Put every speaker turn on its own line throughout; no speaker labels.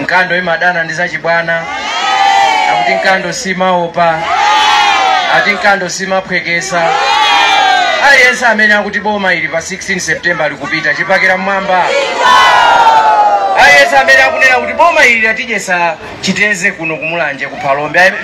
nkando imadana ndi zachibwana akuti nkando simaopa ati nkando simaphwekesa aliyense amene akuti boma ili pa 16 september likupita chipakira m'mwamba aliyense amene akunena kuti boma ili latidyesa chiteze kuno ku Mulanje ku Phalombe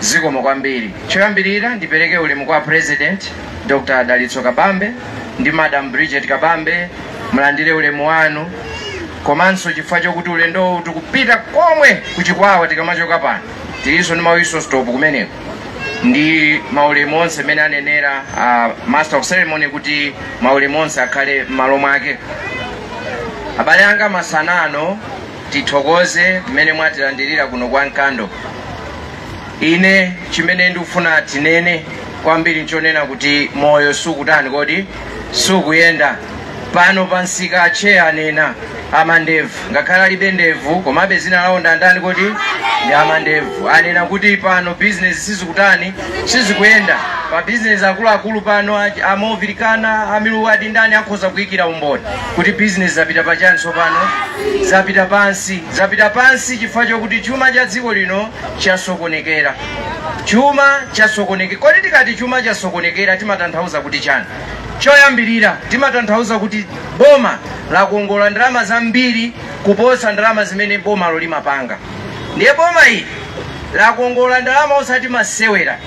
Zikomo kwambiri. Choyambirira ndipereke ulemu kwa President Dr. Dalitso Kabambe ndi Madam Bridget Kabambe, mulandire ulemu wanu komanso chifukwa chokuti ulendowu tikupita komwe ku Chikwawa tikamachoka pano tilinso ndi ma whistle stop kumeneko ndi maulemu onse mmene anenera a master of ceremony kuti maulemu onse akhale m'malo mwake abale anga masana ano tithokoze mmene mwatilandirira kuno kwa nkando ine chimene ndikufuna tinene kwambiri nchonena kuti moyo sukutani kodi sukuyenda pano pansika atcheya anena amandevu ngakhale alibe ndevu komabe dzina lawo ndandani kodi ndi amandevu anena kuti pano bizinesi sizikutani sizikuyenda pa bizinesi akuluakulu pano amavilikana amiluwadi ndi ndani akhoza kuyikira umboni kuti bizinesi zapita pachani tsopano zapita pansi zapita pansi chifukwa chokuti chuma cha dziko lino chasokonekera chuma chasokonekera kodi tikati chuma chasokonekera timatanthauza kuti chani choyambirira timatanthauza kuti boma lakongola ndalama zambiri kuposa ndalama zimene bomalo limapanga ndiye boma ili lakongola ndalama osati masewera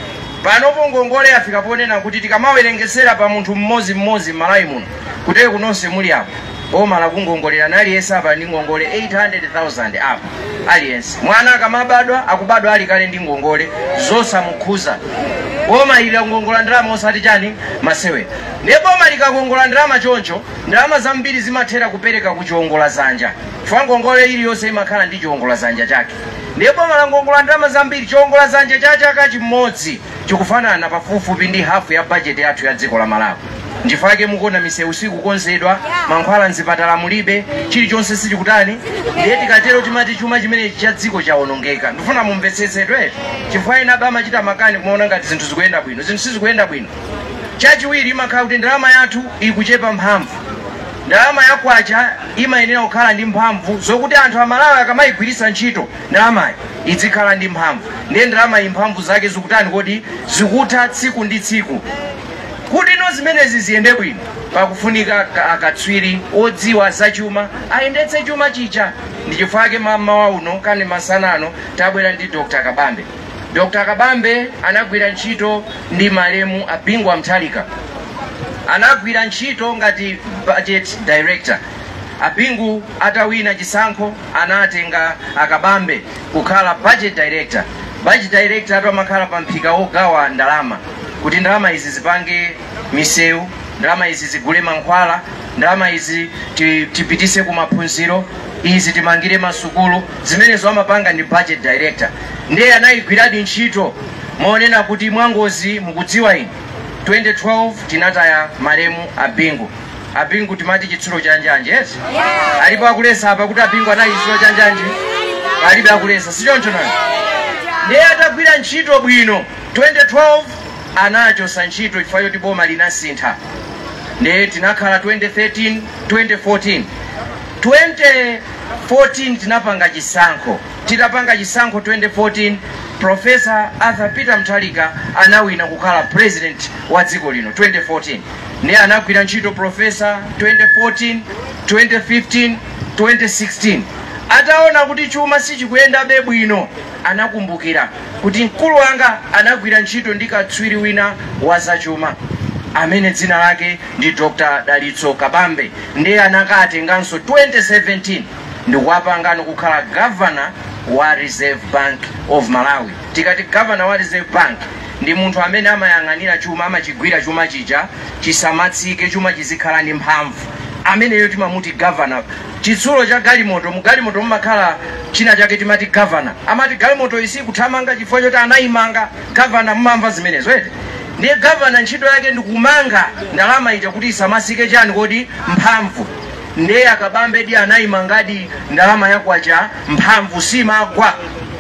panopo ngongole yafika ponena kuti tikamawerengesera pa munthu mmodzi mmodzi m'malawi muno kutereku nonse muli apo boma lakukongolera naliyense apa ali ndi ngongole 800,000 apa aliyense mwana akamabadwa akubadwa ali kale ndi ngongole zosamukhuza boma ili lakongola ndalama osati chani masewera ndiye boma likakongola ndalama choncho ndalama zambiri zimathera kupereka ku chiongola dzanja chifukwa ngongole iliyonse imakhala ndi chiongola dzanja chake ndiye boma lakongola ndalama zambiri chiongola dzanja cha chaka chimodzi chikufanana pafupifupi ndi hafu ya bajeti yathu ya dziko la malawi nchifukwa chake mukuona misewu sikukonzedwa mankhwala mzipatala mulibe chilichonse sichikutani ndiye tikatero timati chuma chimenechi cha dziko chawonongeka ndifuna mumvetsetsedwe chifukwa enawa amachita makani kumaona ngati zinthu zikuyenda bwino zinthu sizikuyenda bwino chachiwiri imakhala kuti ndalama yathu ikuchepa mphamvu ndalama ya kwacha imayenera kukhala ndi mphamvu zokuti anthu amalawi akamayigwiritsa ntchito ndalamayi idzikhala ndi mphamvu ndiye ndalamayi mphamvu zake zikutani kodi zikutha tsiku ndi tsiku kuti no zimenezi ziyende bwino pakufunika ka- akatswiri odziwa zachuma ayendetse chumachi cha ndi chifukwa chake mamawa uno kani masana ano tabwera ndi dr kabambe dr kabambe anagwira ntchito ndi malemu a bingu wa mutharika anagwira ntchito ngati budget director a bingu atawina chisankho anatenga akabambe kukhala budget director budget director amakhala pa mphika wogawa ndalama kuti ndalama izi zipange misewu ndalama izi zigule mankhwala ndalama izi ti- tipitise ku maphunziro izi timangire masukulu zimenezo amapanga ndi budget director ndiye anayigwiradi ntchito monena kuti mwangozi mukudziwa ine 2012 tinataya malemu abingu abingu timati chitsulo cha njanji yes alipo akuletsa apa kuti abingu anali chitsulo cha njanji palibe akuletsa sichoncho nani ndiye atagwira ntchito bwino 2012 anachoka ntchito chifukwa choti boma linasintha ndiye tinakhala 2013 2014 2014 tinapanga chisankho titapanga chisankho 2014 profesa arthur peter mutharika anawina kukhala president wa dziko lino 2014 ndiye anagwira ntchito profesa 2014 2015 2016 ataona kuti chuma sichikuyendabe bwino anakumbukira kuti mkulu wanga anagwira ntchito ndi katswiri wina wa zachuma amene dzina lake ndi dr dalitso kabambe ndiye anakatenganso 2017 ndikuwapangano kukhala gavana wa reserve bank of malawi Tikati governor wa reserve bank ndi munthu amene amayang'anira chuma, amachigwira chuma chija chisamatsike chuma chizikhala ndi mphamvu, ameneyo timamuti governor. Chitsulo cha galimoto, mu galimoto mumakhala china chake timati governor. Amati galimotoyi sikuthamanga chifukwa choti anayimanga governor, mumamva zimenezo eti? Ndiye governor ntchito yake ndi kumanga ndalama ija kuti isamatsike chani kodi mphamvu. Ndiye akabambe anayimangadi ndalama ya kwacha mphamvu simagwa.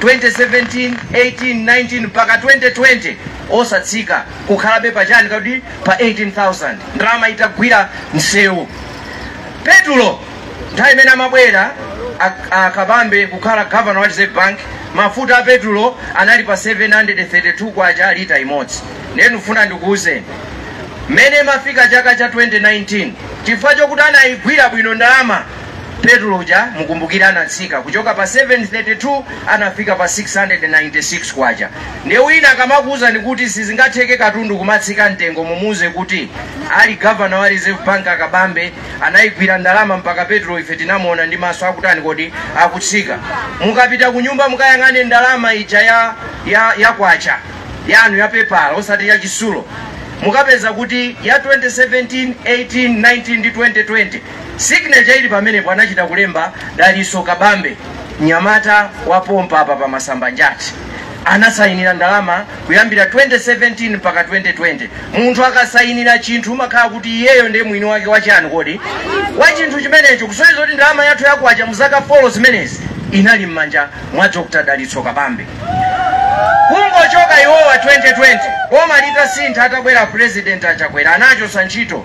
2017 18 19 mpaka 2020 osatsika kukhalabe pachani kodi pa 18000 ndalama itagwira msewu petulo nthawi imene amabwera ak- akabambe kukhala gavana wa reserve bank mafuta a petulo anali pa 732 kwacha lita imodzi ndiye ndikufuna ndikuuzeni mmene imafika chaka cha 2019 chifukwa chokuti anayigwira bwino ndalama petulo uja mukumbukire anatsika kuchoka pa 732 anafika pa 696 kwacha ndiye wina akamakuwuzani kuti sizingatheke katundu kumatsika mtengo mumuwuze kuti ali gavana wa reserve bank akabambe anayigwira ndalama mpaka petulo ife tinamuona ndi maso akutani kodi akutsika mukapita ku nyumba mukayang'ane ndalama ija ya, ya, ya kwacha yanu ya pepala osati ya chitsulo mukapeza kuti ya 2017 18 19 ndi 2020 Signature ili pamenepo anachita kulemba Dalitso Kabambe mnyamata wa pompa apa pa Masambanjati anasayinira ndalama kuyambira 2017 mpaka 2020 munthu akasayinira chinthu umakhala kuti iyeyo ndiye mwini wake wachiyani kodi wa chinthu chimenecho kusonyeza kuti ndalama yathu ya kwacha mu zaka 4 zimenezi inali m'manja mwa Dr. Dalitso Kabambe kungochoka iwowa 2020 boma litasintha atabwera president a Chakwera anachosa ntchito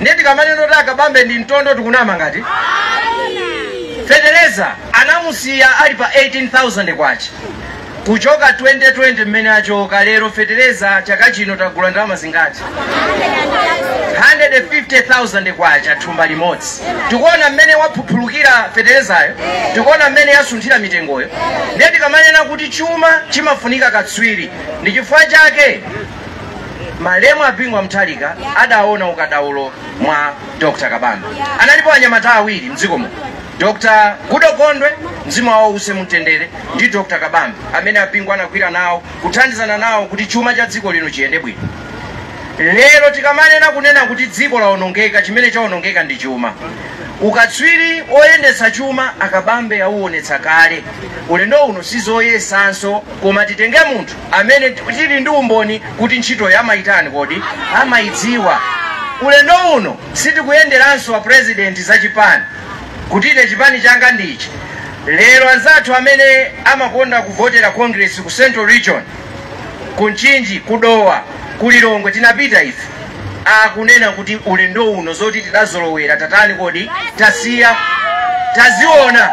ndiye tikamanena kuti a Kabambe ndi mtondo tikunama ngati fetereza anamusiya ali pa 18000 kwacha kuchoka 2020 mmene achoka lero fetereza chaka chino tagula ndalama zingati 150,000 kwacha thumba limodzi tikuona mmene waphuphulukira feterezayo tikuona mmene yasunthira mitengoyo ndiye tikamanena kuti chuma chimafunika katswiri ndi chifukwa chake malemu a Bingu wa Mutharika adaona ukadaulo mwa Dr. Kabambe. Analipo anyamata awiri mdziko muno, Dr. Goodall Gondwe mzimu wawo uuse mumtendere ndi Dr. Kabambe amene a Bingu anagwira nawo kuthandizana nawo kuti chuma cha dziko lino chiyende bwino. Lero tikamanena kunena kuti dziko lawonongeka, chimene chawonongeka ndi chuma. Ukatswiri woyendetsa chuma a Kabambe auonetsa kale. Ulendo uno sizoyesanso koma titenge munthu amene tili ndi umboni kuti ntchitoyo amaitani kodi? Amaidziwa. Ulendo uno sitikuyenderanso a President za chipani kuti ine chipani changa ndi ichi. Lero anzathu amene amakonda kuvotera Congress ku Central Region, ku Mchinji, ku Dowa, ku Lilongwe tinapita ife. akunena kuti ulendo uno zoti tidazolowera tatani kodi tasiya taziona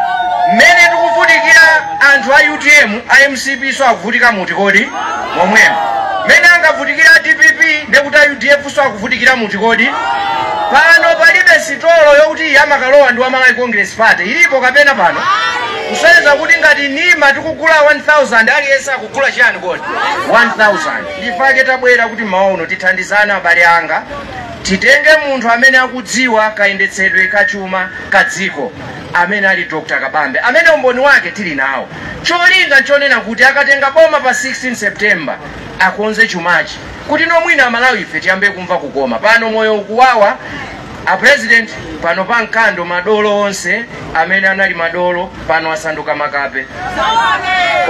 mmene tikuvutikira anthu a utm a mcp so akuvutika muti kodi momwemo mmene angavutikira a dpp ndekuti a udf so akuvutikira muti kodi pano palibe sitolo yokuti iyi amakalowa ndi wa malawi congress party ilipo kapena pano kusonyeza kuti ngati nima tikugula 1000 aliyense akugula chiyani kodi 1000 Ndifake tabwera kuti mmawa uno tithandizane abale anga, titenge munthu amene akudziwa kayendetsedwe ka chuma ka dziko amene ali Dr. Kabambe amene umboni wake tili nawo. Cholinga nchonena kuti akatenga boma pa 16 September akonze chumachi kutino mwina Amalawife tiyambe kumva kukoma. Pano moyo ukuwawa A president pano pa Nkando madolo onse amene anali madolo pano asanduka makape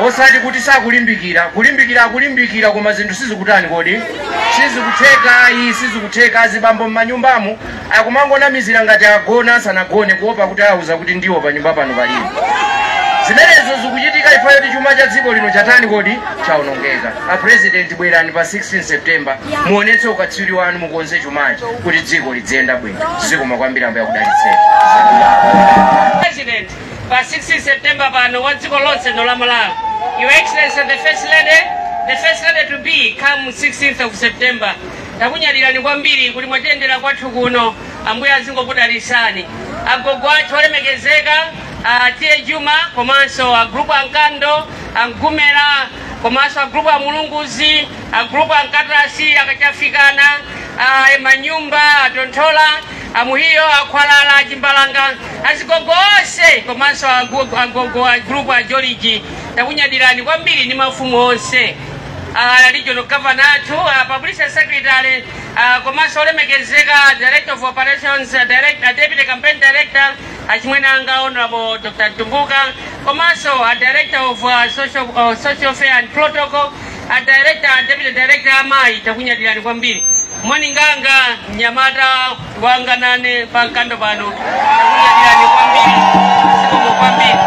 osati kuti sakulimbikira kulimbikira akulimbikira koma zinthu sizikutani kodi sizikutheka ayi sizikutheka azibambo m'manyumbamo akumangonamizira ngati agona asanagone kuopa kuti auza kuti ndiwo pa nyumba pano palibe zimenezo zikuchitika chifukwa choti chuma cha dziko lino chatani kodi chaonongeka a president bwerani pa 16 september muonetse ukatswiri wanu mukonze chumachi kuti dziko lidziyenda bwino zikomo kwambiri ambuye akudalitseni president
pa 16 september pano wa dziko lonse lino la malawi your excellency the first lady the first lady to be come 16th of september takunyadirani kwambiri kuti mwatiyendera kwathu kuno ambuye azingokudalitsani agogo athu olemekezeka a tiye juma komanso agulupu a mkando a mgumera komanso agulupu a mulunguzi agulupu a nkatasi akachafikana a manyumba a tonthola amuhiyo akhwalala achimbalanga azigogo onse komanso agu- agogo a gulupu a joliji takunyadirani kwambiri ndi mafumu onse a regional governor athu a publicity secretary komanso olemekezeka a director of operations a direct- a deputy campaign director achimwene anga honorable dr tumbuka komanso a director of uh, social, uh, social affairs and protocol a director a deputy director amayi takunyadirani kwambiri monyinganga mnyamata wanga nane pa mkando pano takunyadirani kwambiri zikomo kwambiri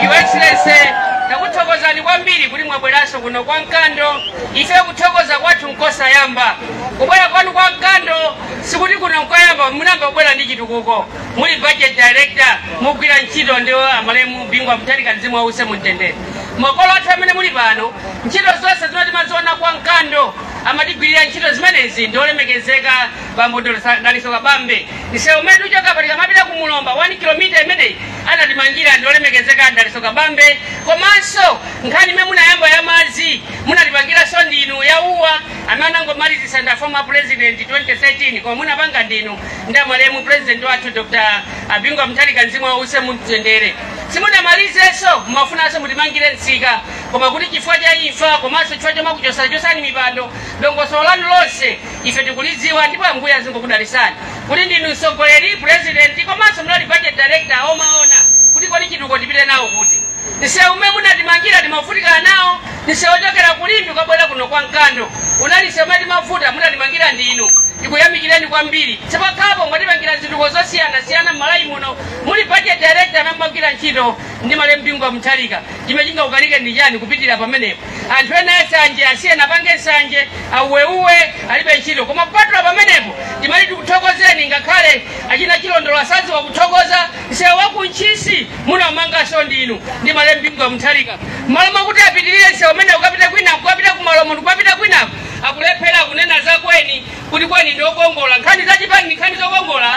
your excellency takuthokozani kwambiri kuti mwabweranso kuno kwa mkando ife kuthokoza kwathu nkosasimba kubwera kwanu kwa mkando sikuti kuno nkoyamba munayamba kubwera ndi chitukuko muli budget director mukugwira ntchito ndi amalemu bingu wa mutharika mzimu wawo uuse mumtendere makolo athu amene muli pano Ntchito zonse zimene timaziona kwa Mkando amatigwirira ntchito zimenezi ndi olemekezeka bambo Dr. Dalitso Kabambe. Msewu umene uchoka pa tikamapita ku Mulomba 1 kilomita imeneyi anatimangira ndi olemekezeka Dalitso Kabambe. Komanso nkhani imene munayamba ya madzi munatipangiranso ndinu ya uwa amene anangomalizitsa ndi former president 2013 koma munapanga ndinu ndi amalemu president wathu Dr. Bingu wa Mutharika mzimu wawo uuse mumtendere. Simunamalizenso mumafunanso mutimangire msika koma kuti chifukwa cha imfa komanso chifukwa chomakuchosachosani mipando dongosolo lanu lonse ife tikulidziwa ndipo ambuye azingokudalitsani kuti ndinu mtsogoleri president komanso munali budget director omaona kuti kodi chitukuko tipite nawo kuti msewu umene munatimangira timavutika nawo msewu ochokera ku limbe kubwera kuno kwa mkando unali msewu umene umavuta munatimangira ndinu tikuyamikireni kwambiri chapompano mwatipangira zitukuko zosiyanasiyana m'malawi muno muli budget director amene amagwira ntchito ndi malemu bingu wa mutharika chimene chingakukanikeni ndi chani kupitira pamenepo anthu ena ansanje asiyeni apange nsanje auweuwe alibe ntchito koma kupatula pamenepo timati tikuthokozeni ngakhale achina chilondolo sadziwa kuthokoza msewu wakuntchisi munaumanganso ndinu ndi malemu bingu wa mutharika m'malo mwakuti apitirire msewu umene ukapita kwinako ukapita kumalomo ndikukapita kwinako akulephera kunena zakweni kuti akweni ndi okongola nkhani za chipani ndi nkhani zokongola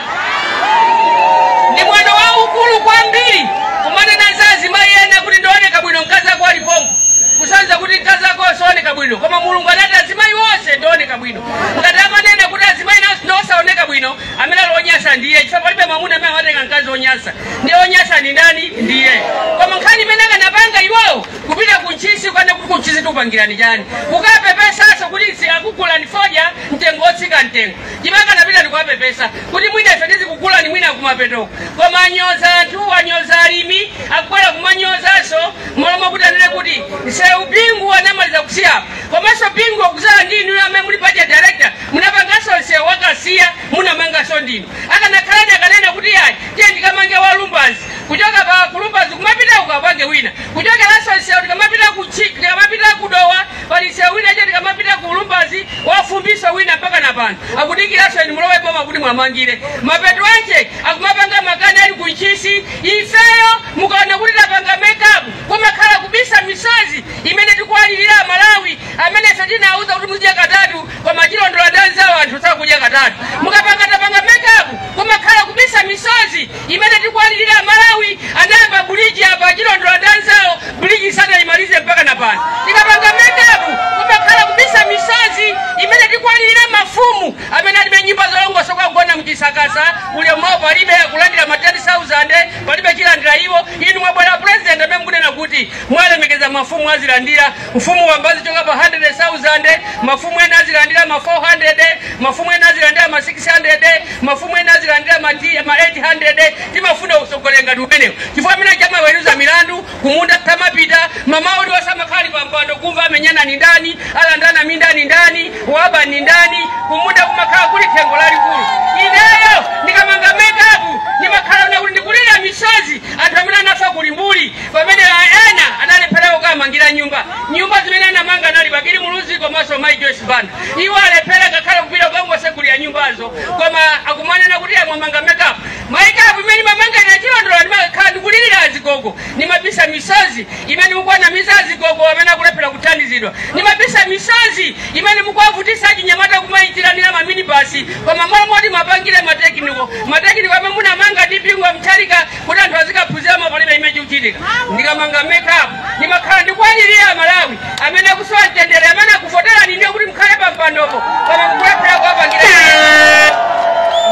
ndi mwano waukulu kwambiri kumanena za azimayi ena kuti ndioneka bwino mkazi ako ali pompo kusonza kuti mkazi ako osaoneka bwino koma mulungu anati azimayi onse ndioneka bwino ngati amanena kuti azimayi nawo ndiosaoneka bwino amene ali onyasa ndiye chifukwa palibe mwamuna amene amatenga mkazi onyasa ndiye onyasa ndi ndani ndiye koma nkhani imene akanapanga iwowo kupita ku ntchisi kukanena kuti kuntchisi tikupangirani chani kukapepesaso kuti akugulani fodya mtengo wotsika mtengo akanapita ndikuwapepesa kuti mwina ife tizikugulani mwina kumapetoko koma anyoza anthu anyoza alimi akubwera kumanyozaso mmalo mokuti anene kuti nsewu bingu anamaliza kusiyapo komanso bingu akuzala ndi inuyo amene muli budget director munapanganso nsewu wakasiya munamanganso ndinu akanakhala akanena kuti ayi tiye ndikamange wa lumbadzi kuchoka pa lumbadzi kumapita ukapange wina kuchokeranso msewu tikamapita ku Chi- tikamapita ku dowa pali msewu wina icho tikamapita ku lumbadzi wafumbiso wina mpaka na pano akudikiranso inu mulowe boma kuti muwamangire mapeto ake akumapanga makani ali ku ntchisi ifeyo mukaona kuti tapanga mekapu kumakhala kubisa misozi imene tikuwalirira amalawi amene ife tinawauza kuti muzidya katatu koma achilondola ndi anzawo anthu sakudya katatu mukapanga tapanga mekapu kumakhala kubisa misozi imene tikuwalirira amalawi anayamba buliji apa achilondola ndi anzawo buliji sanayimalize mpaka na pano tikapanga mekapu kumakhala kubisa misozi imene tikuwalirira mafumu amene alibe nyumba zolongosoka kugona mchisakasa ulemu wawo palibe akulandira ma 10000 palibe chilandira iwo inu mwabwera pulezidenti amene mukunena kuti mwalemekeza mafumu azilandira Mfumu wamba azichoka pa 100,000, mafumu ena azilandira ma 400, mafumu ena azilandira ma 600, mafumu ena azilandira ma ti- ma 800. Timafuna utsogoleri ngati umenewu chifukwa amene amaweruza milandu kumunda samapita mamawa uliwonse amakhala ali pa mpando kumva amenyana ni ndani, alandana minda ndi ndani, waba ni ndani, kumunda kumakhala kuli thengo lalikulu. Ineyo ndikamanga mekapu ndimakhala kuti ndikulira misozi anthu amene anafa ku Limbuli pamene ena analephera kukamangira nyumba nyumba zimene anamanga anali bakili muluzi komanso mai joyce banda iwo alephera ngakhale kupita kukangosegulira nyumbazo koma akumanena kuti amamanga makeup makeup imene ndimamanga ine achilondola ndimakhala ndikulirira azigogo ndimabisa misozi imene mukuwanamiza azigogo amene akulephera kuthandizidwa ndimabisa misozi imene mukuwavutisa achinyamata kumayitanira maminibasi koma mmalo moti muwapangire matekiniko matekiniko amene munamanga ndi bingu wa mutharika kuti anthu azikaphunziramo palibe chimene chikuchitika ndikamanga makeup ndimakhala ndikuwalirira amalawi amene akusowa mtendere amene akuvoterani ndiye kuti mukhale pa mpandopo koma mukulephera kuwapangira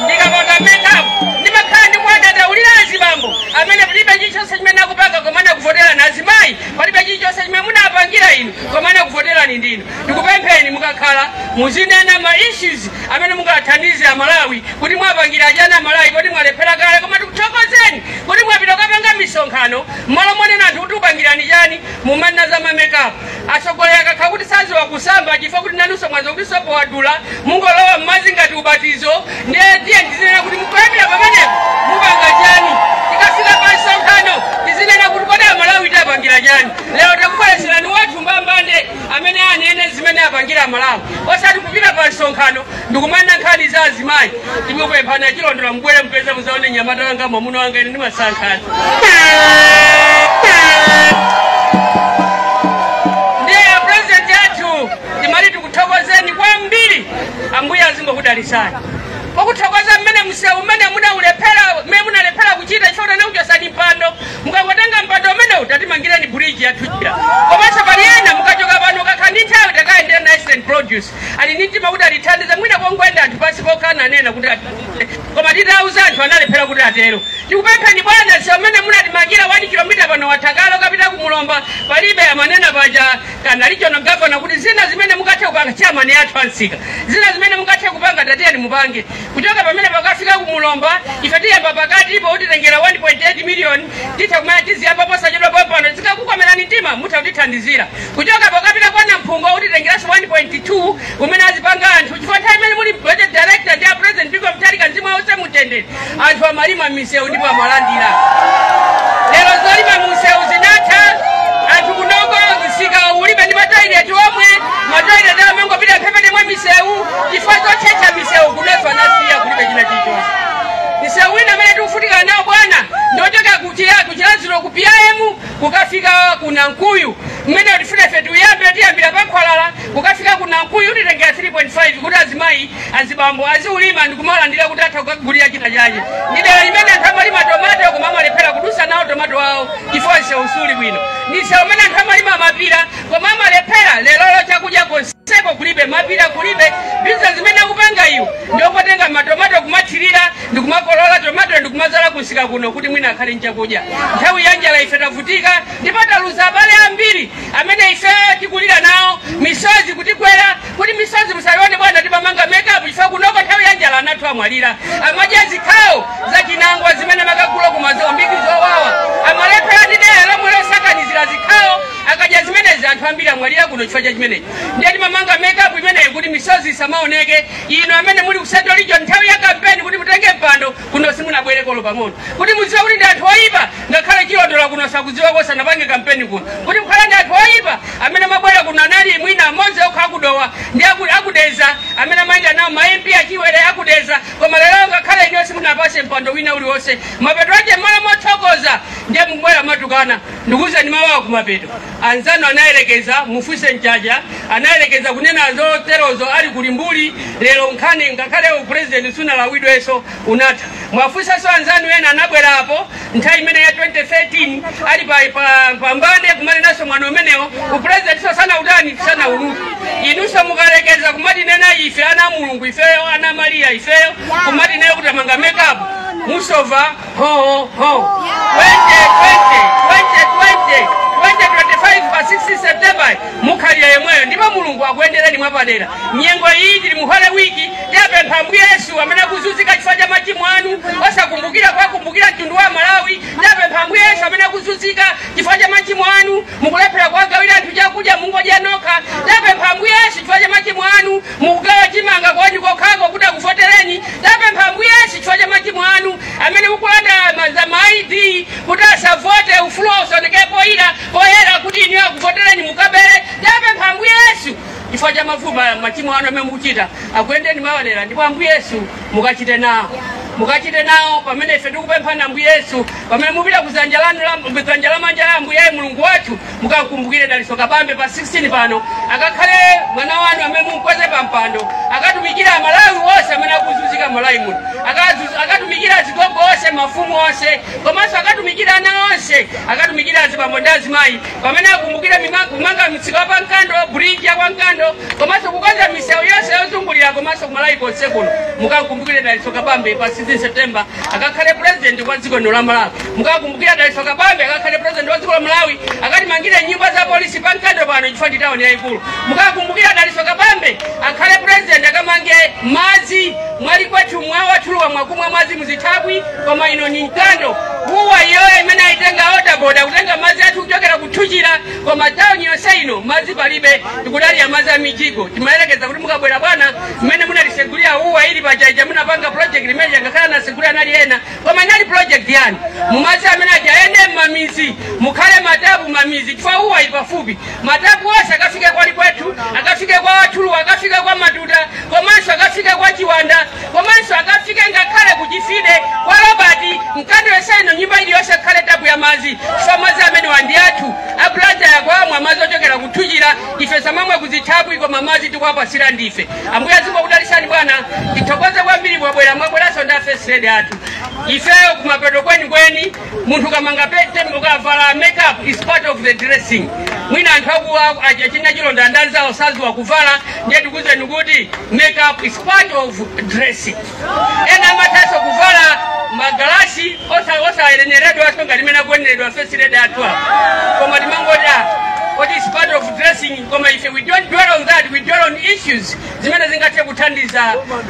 ndikamanga makeup ndimakhala ndikuwadandaulira azibambo amene palibe chilichonse chimene akupanga koma anakuvoterani azimayi palibe chilichonse chimene munawapangira inu koma anakuvoterani ndinu Ndikupempheni mukakhala muzinena ma issues amene mungathandize a Malawi kuti mwawapangira chani a Malawi kuti mwalephera kale koma tikuthokozeni kuti mwapita kukapanga misonkhano mmalo monena anthu kuti tikupangirani chani mumanena za ma makeup atsogoleri akakhala kuti saziwa kusamba chifukwa kuti nanunso mwaziwa kuti sopo wadula mungolowa mmadzi ngati ubatizo ndiye tiye tizinena kuti mukuyambira pamenepo mupanga chani tikafika pa msonkhano tizinena kuti kodi a Malawi tapangira chani lero takubweretserani wathu mbambande amene anene zimene apangira malawi osati kupita pa msonkhano ndikumanena nkhani za azimayi timupemphana chilondolo mubwere mupeze muzaone nyamata wanga mwamuna wanga ine ndi nkhani ndiye president yathu timati tikuthokozeni kwambiri ambuye azingokudalisani pokuthokoza mmene msewu umene munaulephera mmene munalephera kuchita chifuna kuchosani mpando mukangotenga mpando umenewu tatimangireni bridge yathu ija komanso pali ena mukachoka pano kakha ndi nthawi takayendera Eastern Produce ali ndi mtima kuti atithandize mwina kongoyenda anthu pansi pokhana anena kuti atithandize. koma titauza anthu analephera kuti atero tikupempheni bwana msewu umene munatimangira 1 kilomita pano wa thalakitalo kapita ku mulomba palibe amanena paja a regional governor kuti zina zimene mukathe kupanga chairman athu ansika zina zimene mukathe kupanga tatiyeni mupange kuchoka pamene pakafika kumulomba ife tiyamba pakati ipo utitengera 1.8 miliyoni titha kumana tiziyamba posachedwa pompano zikakukomerani mtima mutha kutithandizira kuchoka paukapita kwa namphungo utitengeranso 1.2 umene azipanga anthu chifukwa nthawi imene muli budget director ndi a president Bingu Mutharika msewu wonse mutendere anthu amalima misewu ndipo amalandira lero zolima misewu zinatha anthu kunoko msika ulibe ndi matoileti omwe matoileti amangopita mphepete mwa misewu chifukwa chotchetcha misewu kuneso anasiya kulibe china chilichonse misewu ina amene tikuvutika nawo bwana ndiochokera kuchiya ku Chiradzulu ku PIM kukafika ku nankuyu mmene tifuna ife tiyambe tiyambira pa khwalala kukafika ku nankuyu utitengera 3.5 kuti azimayi azibambo aziulima ndikumalandira kuti atha kukagulira chinachake ndi dera limene anthu amalima tomato koma amalephera kudusa nawo tomato wawo chifukwa msewu suli bwino ndi msewu umene anthu amalima mapira koma amalephera lero chakudya konse seko kulibe mapira kulibe biza zimene akupanga iwo ndi zotenga matomato kumathirira ndikumakolola tomato ndikumazala kunsika kuno kuti mwina akhale nchakudya nthawi ya njala ife tavutika ndipo taluza abale ambiri amene ife tikulira nawo misozi kutigwera kuti misozi musaione bwana timamanga makeup chifukwa kunoko nthawi ya njala anathu amwalira amadya zikhawo za chinangwa zimene amakagula ku Mozambique zowawa amalephera ndi deya lomwe losakanizira zikhawo akadya zimenezi anthu ambiri amwalira kuno chifukwa cha chimenechi ndiye timamanga makeup imeneyi kuti misozi isamaoneke ino amene muli ku central region nthawi ya kampeni kuti mutenge mpando kuno simunabwereko olo pang'ono kuti mudziwe kuti ndi anthu oyipa ngakhale chilondola kuno sakudziwa kosanapange kampeni kuno kuti muzikhala ndi anthu oyipa amene mabwera kuno anali mwina amodzi okha aku Dowa ndi aku- aku Dedza amene amayenda nawo ma mp achiwere aku Dedza koma lero ngakhale ino simunapatse mpando wina uliwonse mapeto ache mmalo mothokoza ndiye mubwera kumatukwana Ndikuuzeni mawu a kumapeto. Anzanu anayerekeza, mufunse Mchacha, anayerekeza kunena zoterozo ali ku Limbuli, lero nkhani ngakhale upulezidenti siunalawidwenso, unatha. Muwafunsenso anzanu ena anabwera apo nthawi imene ya 2013 ali pa, pa, pa mbande kumanenanso mwano umenewo, upulezidentinso sanautani sanaulawe. Inunso mukayerekeza kumatinena ife ana a Mulungu ifeyo ana a Mariya ifeyo kumatinena kuti timanga mekapu musova Ho, ho. 2020, 2020, 2025 pa 16 September mukalira yomweyo ndipo mulungu akuyendereni mwapadera nyengo iyi tili mu holy week tapempha ambuye yesu amene akuzunzika chifukwa cha machimo anu osakumbukira kuwakumbukira mtundu wa malawi tapempha ambuye yesu amene akuzunzika chifukwa cha machimo anu mukulephera kuwagawira anthu chakudya mungodya nokha tapempha ambuye yesu chifukwa cha machimo anu mukugawa chimanga kwanu kokhako kuti akuvotereni tapempha ambuye yesu chifukwa cha machimo anu amene mukulanda ma- za ma id kuti asavote ufulu wawo usaoneke poyera poyera kuti inu akuvotereni mukabere tapempha ambuye yesu chifukwa cha mavuva machimo anu amene mukuchita akuyendereni mwapadera ndipo ambuye yesu mukachite nawo mukachite nawo pamene ife tikupemphani ambuye yesu pamene mupita ku dzanja lanu la ku dzanja lamanja la ambuye mulungu wathu mukakumbukire dalitso kabambe pa 16 pano akakhale mwana wanu amene mumkweze pa mpando akatumikire amalawi onse amene akuzunzika mmalawi muno Akazu- akatumikire azigogo onse mafumu onse komanso akatumikire ana onse akatumikire azibambo ndi azimayi pamene akumbukire mima- kumanga msika wa pa nkando bridge ya kwa nkando komanso kukonza misewu yonse yozungulira komanso kumalawi konse kuno mukakumbukire dalitso kabambe pa 16 september akakhale president wa dziko lino la malawi mukakumbukire dalitso kabambe akakhale president wa dziko la malawi akatimangire nyumba za polisi pa nkando pano chifukwa ndi tawuni yayikulu mukakumbukire dalitso kabambe akhale president akamange madzi mwali kwathu mwawatuluwa mwakumwa madzi muzithaphwi koma ino ni nkando apa iyoyo imene ayitenga water board akutenga madzi athu kuchokera ku thuchila koma tawuni yonse ino madzi palibe tikudalira madzi a mijigo timayerekeza kuti mukabwera bwana mmene munalisegulira uwa ili pachaija munapanga project limene changakhala nasegulira nali ena koma inali project yanu madzi amene aja ayende mmamizi mukhale matapu mmamizi chifukwa uwa ili pafupi matapu onse akafike kwali kwethu akafike kwa wathuluwa akafike kwa matuta komanso akafike kwa chiwanda komanso akafike ngakhale ku chifide kwa robert mkando yonse ino nyumba iliyonse ikhale tapu ya madzi chifukwa madzi amenewa ndi athu aku blantyre akumwa madzi ochokera kuthuchira ife tizimwa m'zithaphwi koma madzi tikuwapatsira ndife ambuye azikudalisani bwana tithokoze kwambiri mwabwera mwabweranso ndi a first lady athu ifeyo kumapeto kwenikweni munthu ukamanga pete ukavala makeup is part of the dressing mwina anthu akuwa achina chilonda andanzawo saziwa kuvala ndiye tikuwuzeni kuti makeup is part of dressing ena amathanso kuvala magalasi osa- osayenereredwa aso ngati mmene akuyeneredwa first lady athu apo koma timangoti ah, what is part of dressing koma ife we don't dwell on that we dwell on issues zimene zingathe kuthandiza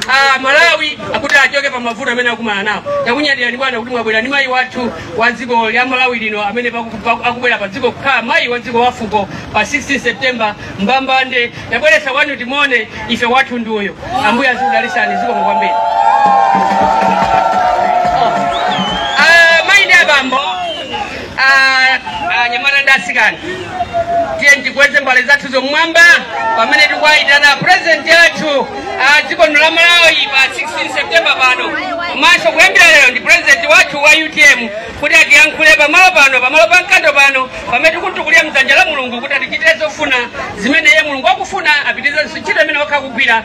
ah, malawi akuti achoke pa mavuto amene akumana nawo takunyadirani bwana kuti mwabwera ni mayi wathu wa dziko la malawi lino amene paku- paku- akubwera pa dziko kukhala mayi wa dziko wafuko pa 16 september mbambande yabweretsa one day timuone ife wathu ndi uyo ambuye azikudalisani zikomo kwambiri Ah, mayi ndi abambo anyamata ndi asikana tiyeni tikweze mbale zathu m'mwamba pamene tikuwayitana purezidenti athu a dziko lino la malawi pa 16 septemba pano komanso kuyambira lero ndi purezidenti wathu wa utm kuti atiyankhule pamalo pano pamalo pa mkando pano pamene tikumtukulira mdzanja la mulungu kuti atichitire zofuna zimene iye mulungu akufuna apitirize ntchito imene wakhala akugwira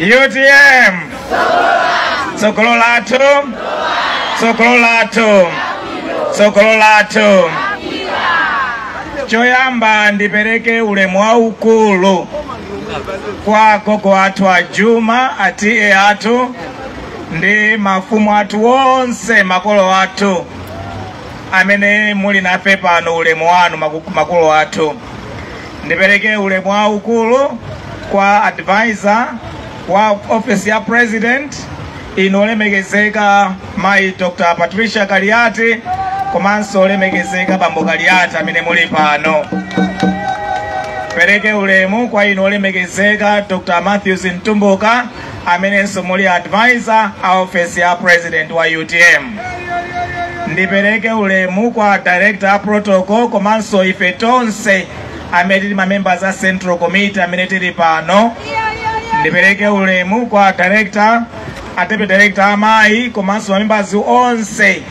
utm tsogolo lathu tsogolo lathu tsogolo lathu choyamba ndipereke ulemu waukulu kwa gogo athu a juma a T/A athu ndi mafumu athu onse makolo athu amene muli nafe pano ulemu wanu maku- makolo athu Ndipereke ulemu waukulu kwa advisor wa office ya president inu olemekezeka mayi Dr. Patricia Kaliati komanso olemekezeka bambo Kaliati amene muli pano. Pereke ulemu kwa inu olemekezeka Dr. Matthews Mtumbuka amenenso muli advisor a ofesi ya president wa utm ndipereke ulemu kwa director a protocol komanso ife tonse amene tili mamembers a central committee amene tili pano ndipereke ulemu kwa director a deputy director amayi komanso mamembers onse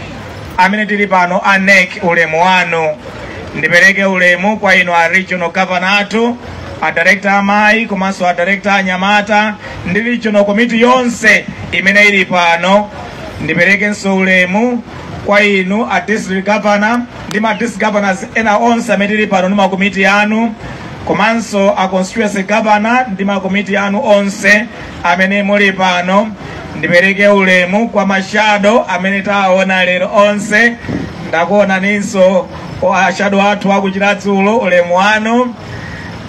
amene tili pano a NEC ulemu wanu ndipereke ulemu kwa inu a regional governor athu adirekta amayi komanso adirekta anyamata ndi regional komiti yonse imene ili pano ndiperekenso ulemu kwa inu a district governor ndi ma district governors ena onse amene tili pano ndi makomiti anu komanso a constituency governor ndi makomiti anu onse amene muli pano ndipereke ulemu kwa mashado amene taona lero onse ndakuonaninso kwa ashado athu akuchiradzulo ulemu wanu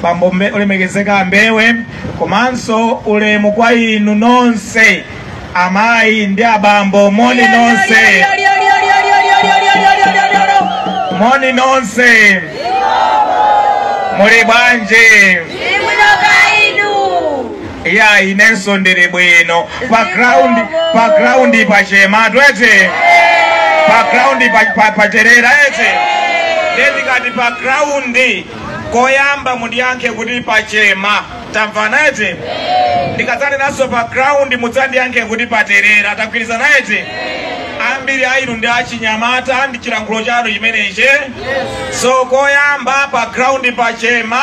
bambo Mbe- olemekezeka ambewe komanso ulemu kwa inu nonse amayi ndi abambo moni nonse moni nonse muli bwanji ya inenso ndili bwino pa ground pa ground pa chema tu eti pa ground pa, pa, pa terera eti ndikati pa ground koyamba mundiyankhe kuti pa chema tamvana eti ndikadzatinso pa ground mudzandiyankhe kuti pa terera tagwirizana eti ambiri a inu ndi achinyamata ndi chilankhulo chanu chimenechi so koyamba pa ground pa chema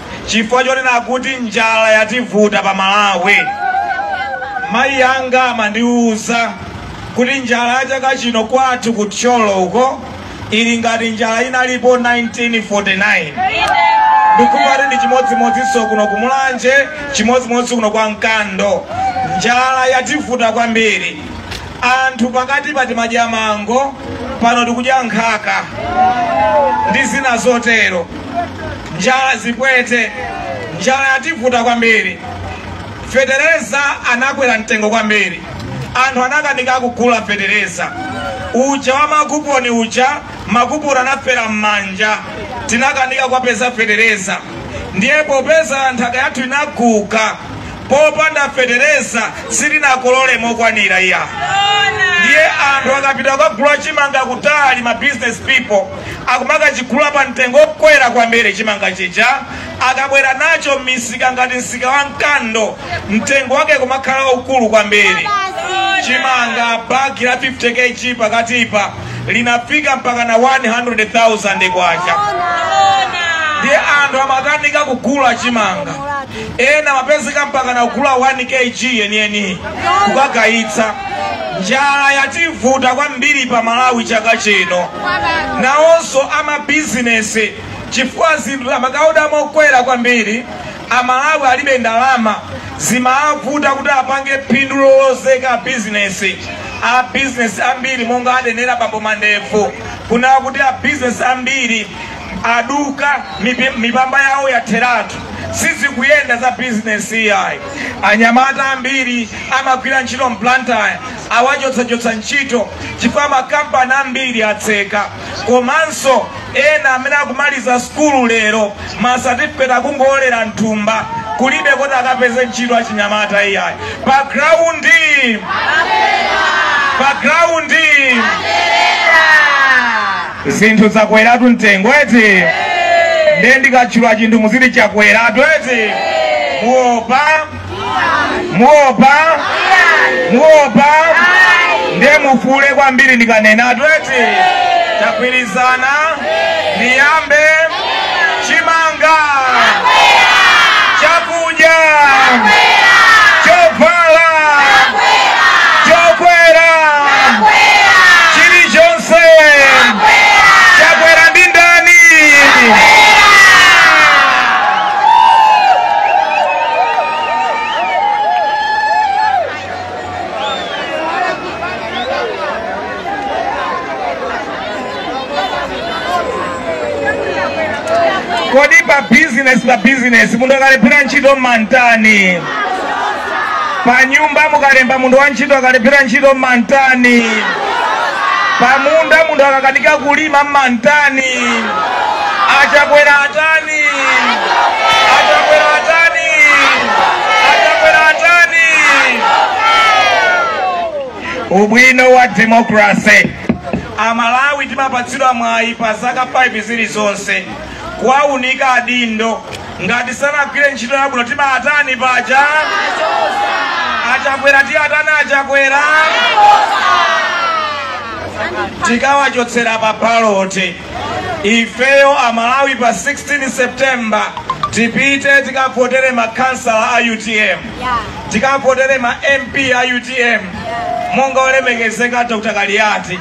chifukwa chonena kuti njala yativuta pa Malawi. Mayi anga amandiwuza kuti njala ya chaka chino kwathu ku Thyolo uko ili ngati njala inalipo 1949 ndi kuti ndi chimodzimodzinso kuno ku Mulanje, chimodzimodzi kuno kwa Mkando. Njala yativuta kwambiri anthu pakatipa timadya mango pano tikudya nkhaka ndi zina zotero njala zipwete njala yativuta kwambiri fetereza anakwera mtengo kwambiri anthu anakanika kugula fetereza uja wa makuponi uja makuponi anafera m'manja tinakanika kuwapeza fetereza ndiye popeza nthaka yathu inaguga popanda fetereza sitinakolole mokwanira iyayi ndiye anthu akapita kukagula chimanga kutali ma business people akumakachigula pa mtengo wokwera kwambiri chimanga chija akabwera nacho m'misika ngati msika wa mkando mtengo wake kumakhala waukulu kwambiri chimanga bagi la 50 kg pakatipa linafika mpaka na 100,000 kwacha ndiye anthu amakanika kugula chimanga ena amapezeka mpakana kugula 1 kg yeniyeni kukagayitsa njala yativuta kwambiri pa malawi chaka chino nawonso amabizinesi chifukwa zinthu amakawoda mokwera kwambiri amalawi alibe ndalama zimavuta kuti apange phindu lolozeka bizinesi a bizinesi ambiri monga anenera bambo Mandevu kunena kuti a bizinesi ambiri aduka mipamba yawo yatheratu sizikuyenda za bizinesi iyayi anyamata ambiri amagwira ntchito mBlantyre awachotsachotsa ntchito chifukwa makampani ambiri atseka komanso ena amene akumaliza sukulu lero masatifiketi akungowolera mthumba kulibe koti akapeze ntchito achinyamata iyayi pa graundi zinthu zakweratu mtengo eti ndiye ndikatchula chinthu muziti chakweratu eti muopa muopa muopa ndiye mufuule kwambiri ndikanenatu eti tagwirizana ndiyambe chimanga chakudya chovala chokwera chilichonse chakwera ndi ndani kodi pa business pa business munthu akalephera ntchito mumamtani pa nyumba mukalemba munthu wa ntchito akalephera ntchito mumamtani pa munda munthu akakanika kulima mumamtani achakwera atani achakwera atani achakwera atani Ubwino wa democracy. Amalawi timapatsidwa mwayi pa zaka 5 zilizonse kuwaunika adindo ngati sanagwire ntchito yabwino timatani paja achakwera tiatani achakwera tikawachotsera pa baloti ifeyo amalawi pa 16 septemba tipite tikavotere makhansala a utm tikavotere ma mp a utm monga olemekezeka dr kaliati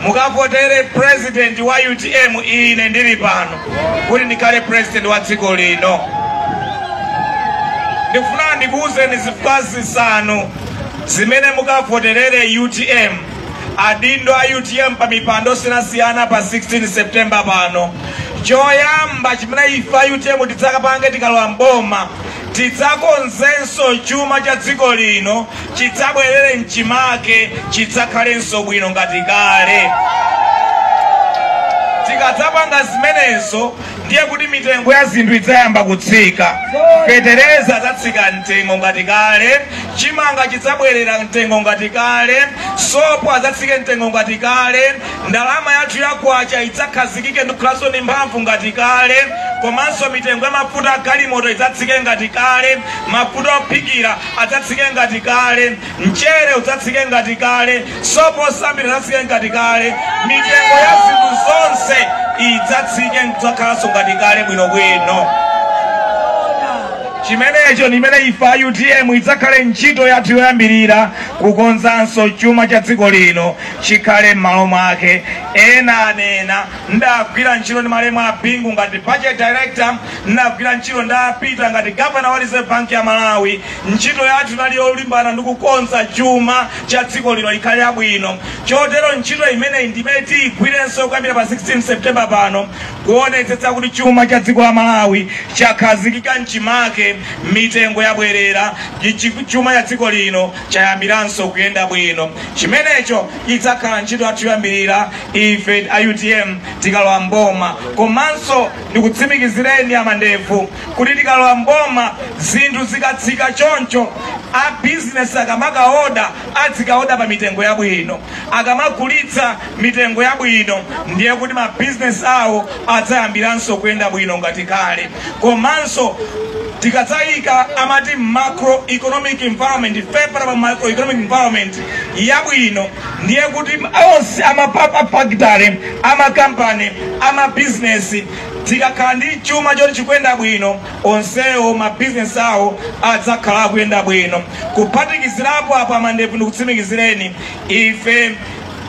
mukavotere president wa utm ine ndili pano kuti ndikhale president wa dziko lino ndikufuna ndikuwuzeni zifukwa zisanu zimene mukavoterere utm adindo a utm pa mipando osiyanasiyana pa 16 september pano choyamba chimene ife a utm tidzakapange tikalowa mboma tidzakonzenso chuma cha dziko lino chidzabwerere mchimake chidzakhalenso bwino ngati kale tikadzapanga zimenezo ndiye kuti mitengo ya zinthu idzayamba kutsika fetereza adzatsika mtengo ngati kale chimanga chidzabwerera mtengo ngati kale sopo adzatsike mtengo ngati kale ndalama yathu ya kwacha idzakhazikike ndi kukhalanso ndi mphamvu ngati kale komanso mitengo ya mafuta a galimoto idzatsike ngati kale mafuta ophikira adzatsike ngati kale Mchere udzatsike ngati kale, sopo osambira adzatsike ngati kale, mitengo ya zinthu zonse idzatsike n'kudzakhalanso ngati kale bwinobwino. Chimenecho ndi chimene ife a utm idzakhale ntchito yathu yoyambirira kukonzanso chuma cha dziko lino chikhale m'malo mwake. Ena anena ndagwira ntchito ndi malemu a Bingu ngati budget director, ndagwira ntchito ndi a Peter ngati governor wa Reserve Bank ya Malawi. Ntchito yathu inali yolimbana ndi kukonza chuma cha dziko lino ikhale yabwino. Chotero ntchito imeneyi ndi imene tiigwirenso kuyambira pa 16 September pano kuonetsetsa kuti chuma cha dziko la Malawi chakhazikika m'chimake, mitengo yabwerera, chuma cha dziko lino chayambiranso kuyenda bwino. Chimenecho idzakhala ntchito yathu yoyambirira ife a UTM tikalowa mboma, komanso ndikutsimikizireni amandevu kuti tikalowa mboma zinthu zikatsika choncho a business akamakaoda adzikaoda pa mitengo yabwino akamagulitsa mitengo yabwino ndiye kuti ma business awo adzayambiranso kuyenda bwino ngati kale komanso tikadzayika amati macro economic environment favorable macro economic environment yabwino ndiye kuti onse amafactory amakampani amabizinesi Tikakhala ndi chuma choti chikuyenda bwino, onsewo mabizinesi awo adzakhala akuyenda bwino. Kuphatikizirapo apo, a Mandevu ndikutsimikizireni, ife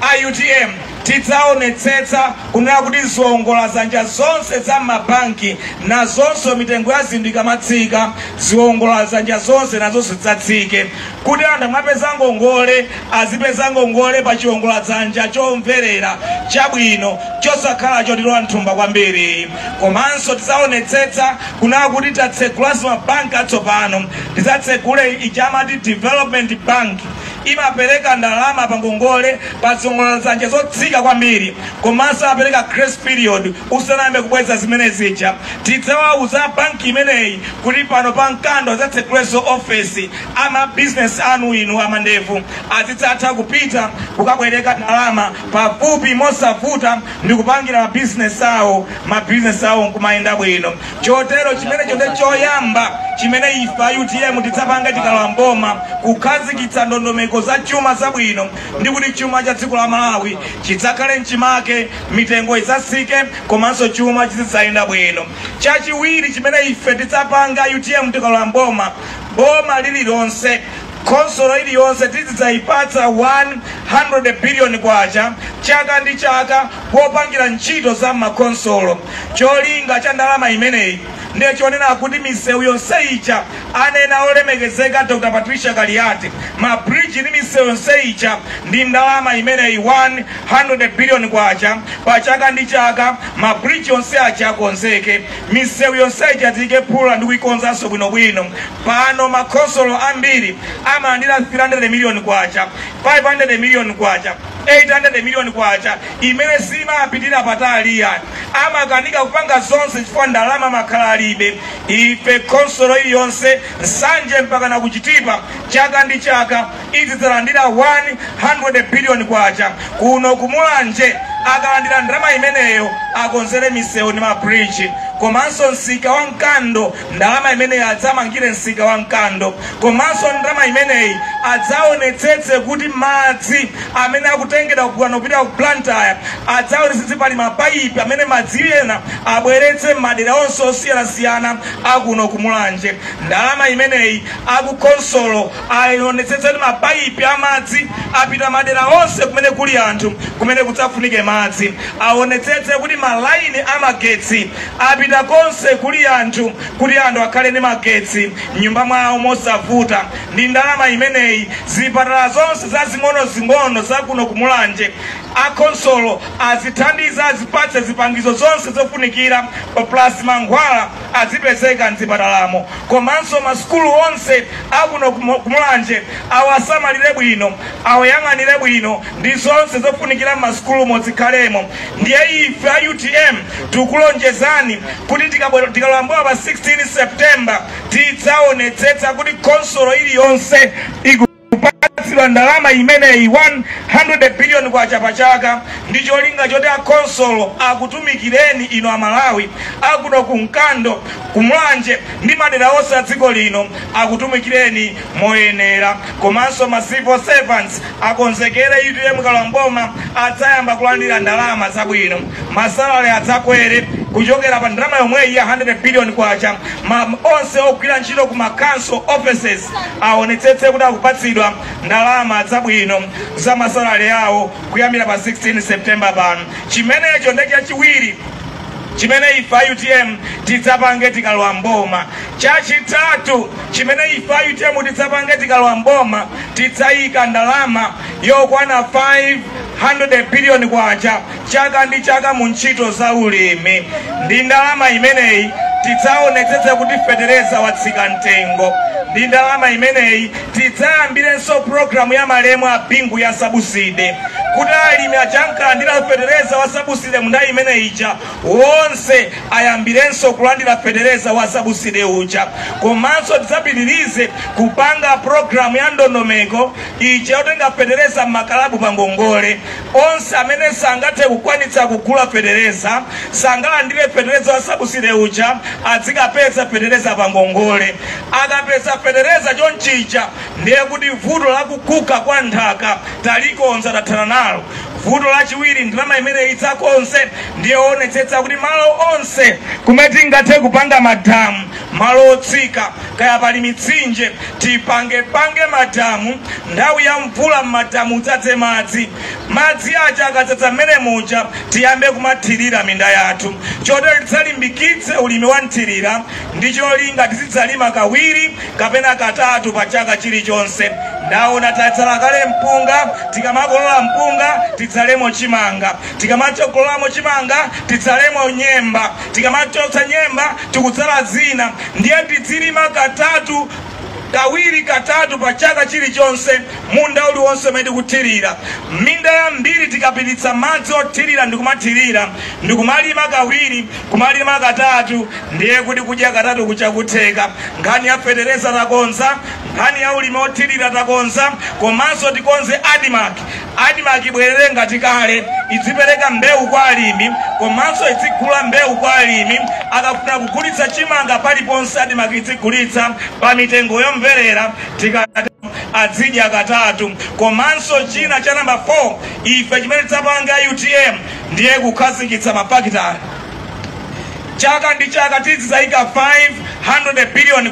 a utm tidzaonetsetsa kunena kuti ziwongola zanja zonse za m'mabanki nazonso mitengo ya zinthu ikamatsika, ziwongola zanja zonse nazonso zidzatsike kuti anthu akamapeza ngongole azipeza ngongole pa chiwongoladzanja chomverera, chabwino, chosakhala chotilowa m'thumba kwambiri. Komanso tizaonetsetsa kunena kuti tatsegulanso mabanki atsopano. Tizatsegule ija amati Development Bank, imapereka ndalama pa ngongole pa ziwongoladzanja zotsika kwambiri, komanso amapereka grace period usanayambe kubweza zimene zija. Tidzawauza a banki imeneyi kuti pano pa Mkando azatsegulenso ofesi. ama business anu inu a mavenda azidzatha kupita kukabwereka ndalama pafupi mosavuta ndi kupangira ma business awo ma business awo nkumayenda bwino chotero chimenecho ndi choyamba chimene ife a utm tidzapanga tikalowa mboma kukhazikitsa ndondomeko za chuma zabwino ndi kuti chuma cha dziko la malawi chidzakhale mchimake mitengo idzatsike komanso chuma chizidzayenda bwino chachiwiri chimene ife tidzapanga utm tikalowa mboma boma lililonse khonsolo iliyonse tizidzayipatsa 100 biliyoni kwacha chaka ndi chaka popangira ntchito za mmakhonsolo cholinga cha ndalama imeneyi ndiye chonena kuti misewu yonse ija anena olemekezeka dr patricia kaliati mabridge ndi misewu yonse ija ndi ndalama imeneyi 100 biliyoni kwacha pa chaka ndi chaka mabridge yonse aja akonzeke misewu yonse ija tiike phula ndi kuikonzanso bwinobwino pano makhonsolo ambiri amalandira 300 miliyoni kwacha 500 miliyoni kwacha 800 miliyoni kwacha imene siimapitira patali yani amakanika kupanga zonse chifukwa ndalama amakhala alibe ife khonsolo iliyonse nsanje mpakana ku chitipa chaka ndi chaka izidzalandira 100 billion kwacha kuno kumulanje akalandira ndalama imeneyo akonzere misewu ndi mabridge komanso msika wa mkando ndalama imeneyi adzamangire msika wa mkando komanso ndalama imeneyi adzaonetsetse kuti madzi amene akutengedwa kugwana kupita ku blantyre adzaonetsetse pali mapaipi amene madzi ena abweretse m'madera onse osiyanasiyana akuno kumulanje ndalama imeneyi akukhonsolo Awonetsetse kuti mapaipi a madzi apita madera onse kumene kuli anthu kumene kudzafunike madzi. Awonetsetse kuti malaini a magetsi apita konse kuli anthu kuti anthu akhale ndi magetsi m'nyumba mwawo mosavuta. Ndi ndalama imeneyi, zipatala zonse zazing'onozing'ono za kuno ku Mulanje akhonsolo azithandiza, azipatse zipangizo zonse zofunikira plus mankhwala. azipezeka mzipatalamo komanso masukulu onse akuno ku Mulanje awasamalire bwino awayang'anire bwino ndi zonse zofunikira m'masukulumo zikhalemo ndiye ife a utm tikulonjezani kuti tikalowa mboma pa 16 september tidzaonetsetsa kuti khonsolo iliyonse iku kupatsidwa ndalama imeneyi 100 billion kwacha pa chaka ndi cholinga choti akhonsolo akutumikireni inu amalawi akuno ku mkando ku mulanje ndi madera onse a dziko lino akutumikireni moyenera komanso ma civil servants akonzekere utm ikalowa mboma adzayamba kulandira ndalama zabwino ma salary adzakwere kuchokera pa ndalama yomweyi ya 100 billion kwacha ma onse ogwira ntchito ku ma council offices aonetsetse kuti akupatsidwa ndalama zabwino za masalale awo kuyambira pa 16 september pano chimenecho ndi chachiwiri chimene ife a utm tidzapange tikalowa mboma chachitatu chimene ife a utm tidzapange tikalowa mboma tidzayika ndalama yokwana 500 biliyoni kwacha chaka ndi chaka mu ntchito za ulimi. Ndi ndalama imeneyi tidzaonetsetse kuti fetereza watsika mtengo. Ndi ndalama imeneyi tidzayambirenso programu ya malemu a Bingu ya sabuside kuti alimi aja ankalandira fetereza wa sabuside mu nthawi imene ija wonse ayambirenso kulandira fetereza wa sabuside uja. Komanso tidzapitirize kupanga programu ya ndondomeko ija yotenga fetereza m'makalabu pa ngongole. Onse amene sangathe kukwanitsa kugula fetereza sangalandire fetereza wa sabuside uja adzikapeza fetereza pa ngongole. Akapeza fetereza chonchija ndiye kuti vuto la kuguga kwa nthaka talikonza tathana nalo. Vuto lachiwiri ndalama imeneyi idzakonze ndiye kuonetsetsa kuti malo onse kumene tingathe kupanga madamu malo otsika kaya pali mitsinje tipange pange madamu nthawi ya mvula m'madamu udzadze madzi madzi aja akadzadza mmenemuja tiyambe kumathirira minda yathu chotero tidzalimbikitse ulimi wa mthirira ndi cholinga tidzidzalima kawiri kapena katatu pa chaka chilichonse ndaona tadzala kale mpunga tikamakolola mpunga tidzalemo chimanga tikamadzakololamo chimanga tidzalemo nyemba tikamachotsa nyemba tikudzala zina ndiye tidzilima katatu kawiri katatu pa chaka chilichonse munda uliwonse umene tikuthirira minda yambiri tikapititsa madzi othirira ndikumathirira ndikumalima kawiri kumalima katatu ndiye kuti kudya katatu kuja kutheka nkhani ya fetereza takonza nkhani ya ulimi wothirira takonza komanso tikonze admarc Admarc ibwerere ngati kale, idzipereka mbewu kwa alimi komanso idzigula mbewu kwa alimi. Akafuna kugulitsa chimanga paliponse, Admarc idzigulitsa pa mitengo yomverera. Tikatero adzidya katatu. Komanso china cha number 4, ife chimene tidzapange a utm ndiye kukhazikitsa mafakitale. Chaka ndi chaka tidzidzaika K500 biliyoni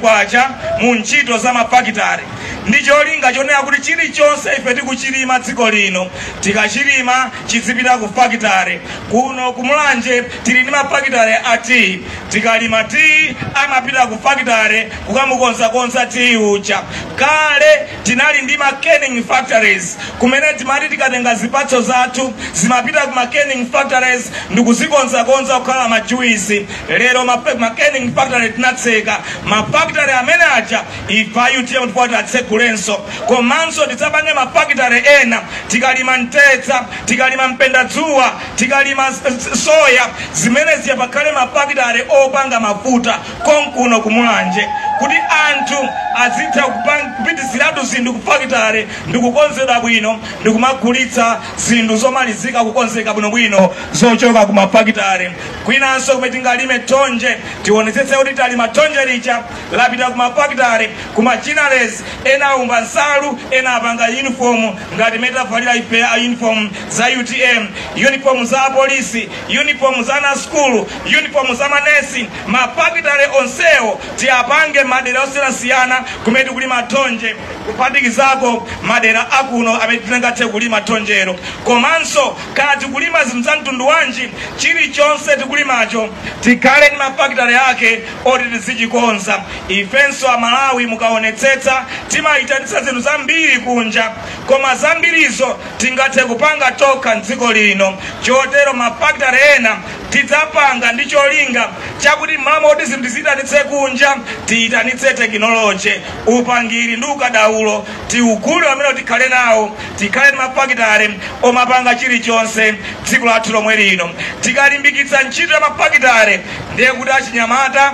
mu ntchito za mafakitale ndi cholinga chonena kuti chilichonse ife tikuchilima dziko lino tikachilima chidzipita ku fakitale. Kuno ku Mulanje tili ndi mafakitale a tiyi, tikalima tiyi amapita ku fakitale kukamukonzakonza tiyi uja. Kale Tinali ndi ma canning factories kumene timati tikatenga zipatso zathu zimapita ku ma canning factories ndikuzikonzakonza kukhala ma juice. Lero ma, fa- ma canning factory tinatseka ma factory amene aja ife a utm ndipo tiatsegulenso komanso tidzapange ma factory ena tikalima mtedza tikalima mpendadzuwa tikalima s- s- soya zimene zija pakhale ma factory opanga mafuta konkuno ku Mulanje kuti anthu azitha kupang- kupititsiratu zinthu ku fakitale ndi kukonzedwa bwino ndi kumagulitsa zinthu zomalizika kukonzeka bwinobwino zochoka ku mafakitale kwinanso kumene tingalime thonje tionetsetse kuti talima thonje lija lapita ku mafakitale ku ma ginneries ena aumba nsalu ena apanga uniform ngati imene tavalirayi ife a uniform za utm uniform za apolisi uniform za ana a sukulu uniform za manesi Mafakitale onsewo tiapange madera osiyanasiyana kumene tikulima thonje kuphatikizako madera akuno amene tingathe kulima thonjero komanso kaya tikulima zinthu za mtundu wanji chilichonse tikulimacho tikhale ndi mafakitale ake oti tizichikonza ifenso amalawi mukaonetsetsa timayitanitsa zinthu zambiri kunja koma zambirizo tingathe kupanga tokha mdziko lino chotero mafakitale ena tidzapanga ndi cholinga chakuti mmalo moti zinthu tiziyitanitse kunja tiyitanitse tekinoloji upangiri ndi ukadaulo tiugule amene tikhale nawo tikhale ndi mafakitale omapanga chilichonse dziko lathu lomwe lino tikalimbikitsa ntchito ya mafakitale ndiye kuti achinyamata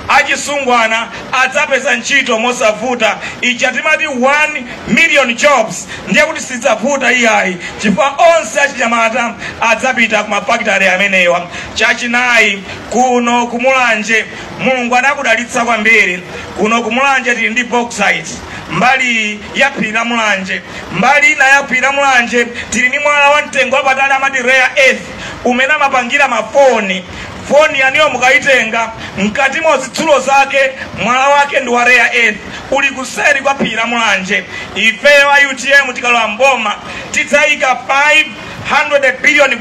achisungwana adzapeza ntchito mosavuta ija timati 1 million jobs ndiye kuti sidzavuta iyayi chifukwa onse achinyamata adzapita ku mafakitale amenewa chachinayi kuno kumulanje mulungu anakudalitsa kwambiri kuno kumulanje tili ndi bauxite mbali iyi ya phiri la mulanje mbali ina ya phiri la mulanje tili ndi mwala wa mtengo wapatali amati rare earth umene amapangira mafoni Foni yanuyo mukaitenga, m'katimo zitsulo zake, mwala wake ndi wa rare earth, uli kuseri kwa phiri la Mulanje. Ifeyo a utm tikalowa m'boma, tidzaika K500 billion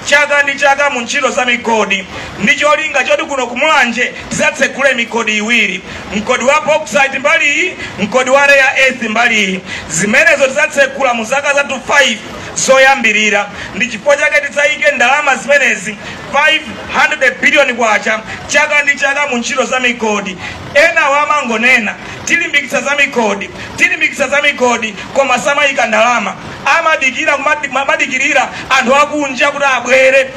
chaka ndi chaka mu ntchito za migodi ndi cholinga choti kuno ku Mulanje tidzatsegule migodi iwiri, mgodi wa bauxite mbali iyi, mgodi wa rare earth mbali iyi. Zimenezo tidzatsegula mu zaka zathu 5. zoyambirira. Ndi chifukwa chake tidzayike ndalama zimenezi K500 billion chaka ndi chaka mu ntchito za migodi. Enawo amangonena, tilimbikitsa za migodi, tilimbikitsa za migodi koma samayika ndalama. Amadikira kumadikirira anthu akunja kuti abwere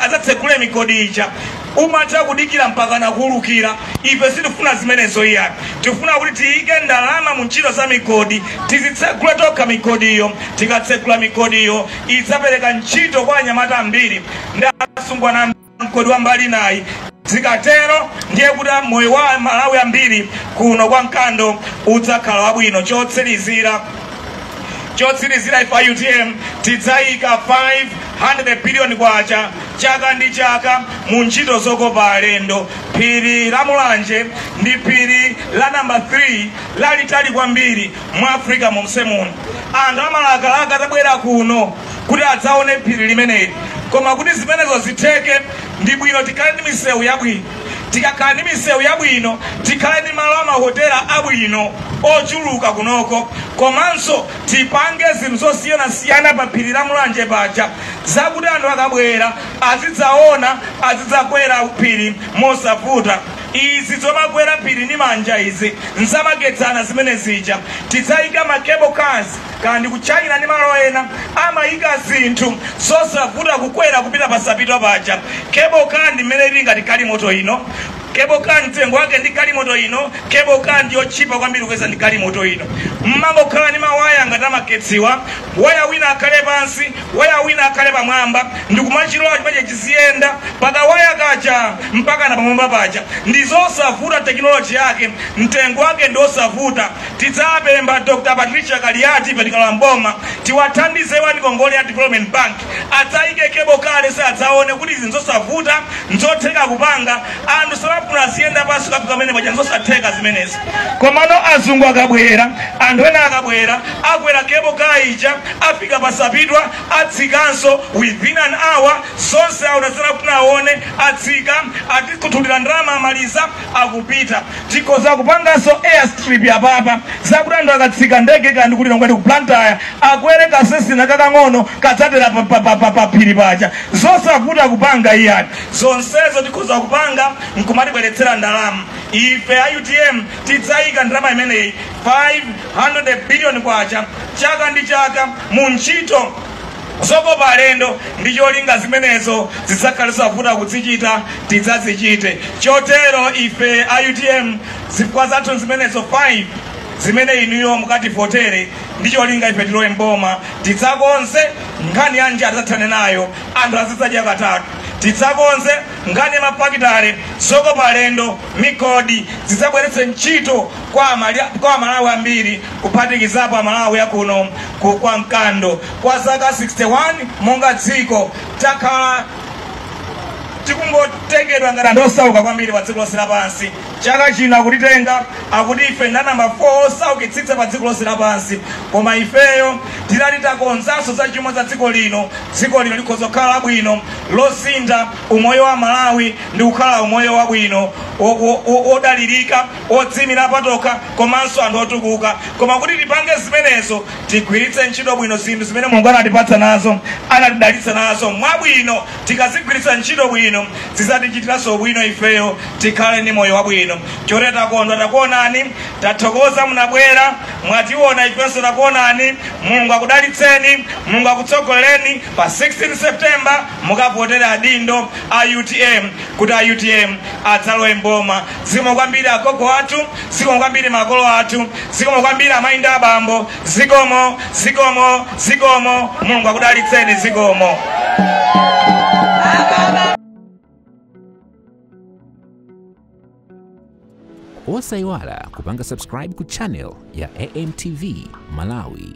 adzatsegule migodi ija. umatha kudikira mpakana kuwulukira. Ife sitifuna zimenezo iyayi. Tifuna kuti tiyike ndalama mu ntchito za migodi, tizitsegule tokha migodiyo. Tikatsegula migodiyo, idzapereka ntchito kwa anyamata ambiri ndi asungwana a mgodi wa mbali inayi. Zikatero ndiye kuti moyo wa aMalawi ambiri kuno kwa Mkando udzakhala wabwino. Chotsirizira, chotsirizira ife a utm tidzayika 5 00 billion kwacha chaka ndi chaka mu ntchito zokopa alendo phiri la mulanje ndi phiri la namba 3 lalitali kwambiri mu africa momse muno anthu amalakalaka atabwera kuno kuti adzaone phiri limeneli koma kuti zimenezo zitheke ndi bwino tikhale ndi misewu yabwino tikakhala ndi misewu yabwino tikhale ndi malo a mahotela abwino ochuluka kunoko komanso Tipange zinthu zosiyanasiyana pa phiri la Mulanje paja zakuti anthu akabwera azidzaona, azidzakwera phiri mosavuta. Izi zomakwera phiri ndi manja izi nzamakedzana zimenezija. Tidzayika ma cable cars kaya ndi ku China ndi malo ena amayika zinthu zosavuta kukwera kupita pa Sapitwa paja. Cable car ndi mmene ili ngati galimoto ino. Cable car mtengo wake ndi galimoto ino. Cable car ndiyotchipa kwambiri kuyerekeza ndi galimoto ino. Mmangokhala ndi mawaya ngati amagetsiwa, waya wina akhale pansi, waya wina akhale pamwamba, ndikumachilola chimenecho chiziyenda pakawaya kaja mpakana pamwamba paja. Ndizosavuta technology yake, mtengo wake ndiosavuta. Tidzapempha Dr. Patricia Kaliati ife tikalowa m'boma, tiwathandize iwo ndi ngongole ya Development Bank, adzayike cable car yo adzaone kuti izi nzosavuta Nzotheka kupanga, anthu samafuna aziyenda pansi kukafika pamwamba paja, nzosatheka zimenezi. Komano azungu akabwera, anthu ena akabwera, akwera cable car ija, afika pa Sapitwa, atsikanso, within an hour zonse aona zimene akufuna aone, atsika, atikhuthulira ndalama amaliza, akupita tikhoza kupanganso airstrip yapapa zakuti anthu akatsika ndege kaya ndi kuti ngati ku blantyre akwere kasesina kakang'ono kadzatera pa phiri paja zosavuta kupanga iyani zonsezo tikhoza kupanga nkumatibweretsera ndalama ife a utm tidzayika ndalama imeneyi 500 billion kwacha chaka ndi chaka mu ntchito Zokopa alendo ndi cholinga zimenezo zidzakhale zosavuta kudzichita, tidzazichite. Chotero ife a utm zifukwa zathu nzimenezo 5 zimene inuyo mukativotere ndi cholinga ife tilowe m'boma, tidzakonze nkhani ya njala tidzathane nayo, anthu azidzadya katatu, tidzakonze nkhani ya mafakitale, zokopa alendo, migodi zidzabweretse ntchito kwa amalawi ambiri kuphatikizapo amalawi akuno ku- kwa mkando. Kwa zaka 61 monga dziko takhala tikungotengedwa ngati anthu osauka kwambiri pa dziko lonse lapansi. Chaka chino akutitenga akuti ife ndi namba 4 osaukitsitsa pa dziko lonse lapansi, koma ifeyo titati takonzanso za chuma za dziko lino, dziko lino likhoza kukhala labwino, losintha umoyo wa Amalawi ndi kukhala umoyo wabwino, wo- wo- wo- wodalirika, wodziimira patokha komanso anthu otukuka. Koma kuti tipange zimenezo tigwiritse ntchito bwino zinthu zimene mulungu anatipatsa nazo anatidalitsa nazo mwabwino tikazigwiritsa ntchito bwino zidzatichitiranso bwino ifeyo tikhale ndi moyo wabwino chotero takondwa takuonani tathokoza munabwera mwationa ifenso takuonani mulungu akudalitseni mulungu akutsogolereni pa 16 september mukavotere adindo a utm kuti a utm adzalowe mboma zikomo kwambiri agogo athu zikomo kwambiri makolo athu zikomo kwambiri amayi ndi abambo zikomo zikomo zikomo mulungu akudalitseni zikomo
osayiwala kupanga subscribe ku channel ya amtv malawi